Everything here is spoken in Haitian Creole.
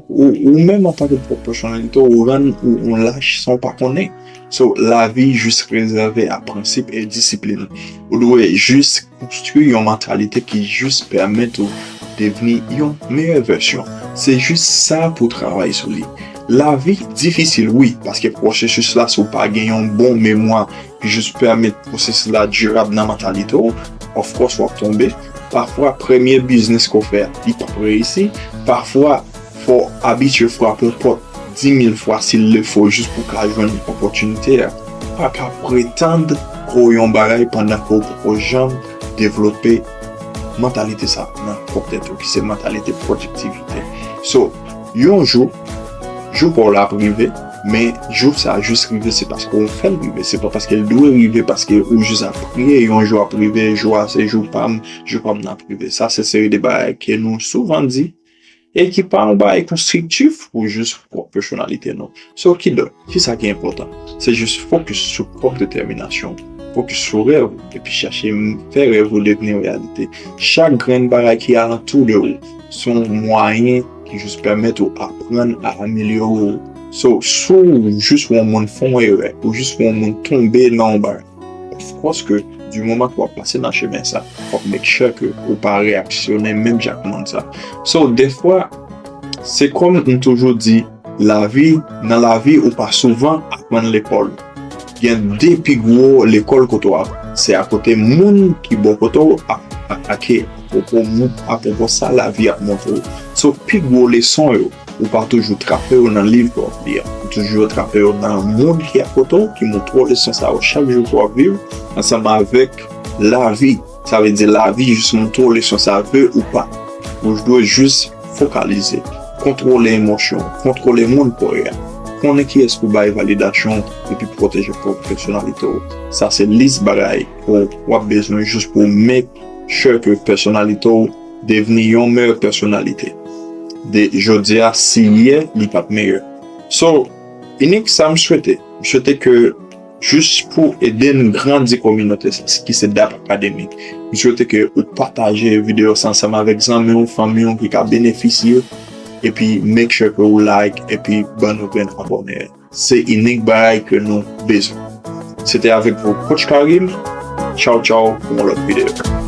Ou menm antanke pwòp pèsonalite ou rann ou yon lach san ou pa konnen. So lavi jis rezève a prensip e disiplin. Ou dwe jis konstwi yon mantalite ki jis pèmèt ou devni yon meyè vèsyon. Se jis sa pou travay sou li. Lavi difisil wi paske pwosesis la si w pa gen yon bon memwa Jis pèmèt pwosesis la dirab nan mantalite w, of course wap tonbe, pafwa premye biznis ke w fè a li pap reyisi, pafwa fò w abitye frape yon pòt 10000 fwa sil le fo jis pou w ka jwenn opòtinite a. Paka pretann ke w yon bagay pandan ke w poko janm devlope mantalite sa nan pwòp tèt ou ki se mantalite pwodiktivite. So, yon jou, jou pa w la ap rive. Men jou sa jis rive se paske ou fèl rive, se pa paske l dwe rive paske ou jis ap priye yon jou ap rive, jou a se jou pa m, jou pa m nan ap rive. Sa se seri de bagay ke nou souvan di e ki pa yon bagay konstriktif pou jis pwòp pèsonalite nou. So kidonk, kisa ki enpòtan? Se jis fokis sou pwòp detèminasyon ou, fokis sou rèv ou epi chache fè rèv ou devni reyalite. Chak grenn bagay ki alantou de ou. Se yon mwayen ki jis pèmèt ou aprann a amelyore ou. So, si w jis wè yon moun fè yon erè, ou jis wè yon moun tonbe nan yon bagay, of course ke di moman ke w ap pase nan chemen sa, fò w make sure ke ou pa reyaksyone menm jan ak moun sa. So, dèfwa, se kòm m toujou di. Lavi, Nan lavi ou pa souvan aprann lekòl. Gen 2 pi gwo lekòl kote w aprann, se akote moun ki bò kote w ap atake apwopo sa lavi ap montre w. So pi gwo leson yo, ou pa toujou trape yo nan liv ke w ap li a. Ou toujou trape yo nan moun ki akote w ki montre w leson sa yo chak jou ke w ap viv ansanm avèk lavi. Sa vle di lavi jis montre w leson sa vle ou pa. Ou dwe jis fokalize, kontwole emosyon w, kontwole moun paw yo, konnen kiyès pou bay validasyon w epi pwoteje pwòp pèsonalite w. Sa se lis bagay ou wap bezwen jis pou w make sure ke pèsonalite w devni yon meyè pèsonalite de jodi a si yè li pat meyè. So, Inik sa m swete? M swete ke. Jis pou ede n grandi kominote sa ki se dap akademi, m swete ke ou pataje videyo sa ansanm avèk zanmi w, fanmi w ki ka benefisye epi make sure ke ou like epi ban nou grenn abòne. Se inik bagay ke nou bezwen. Se te avèk vou Coach Karim, tchaw tchaw pou yon lòt videyo.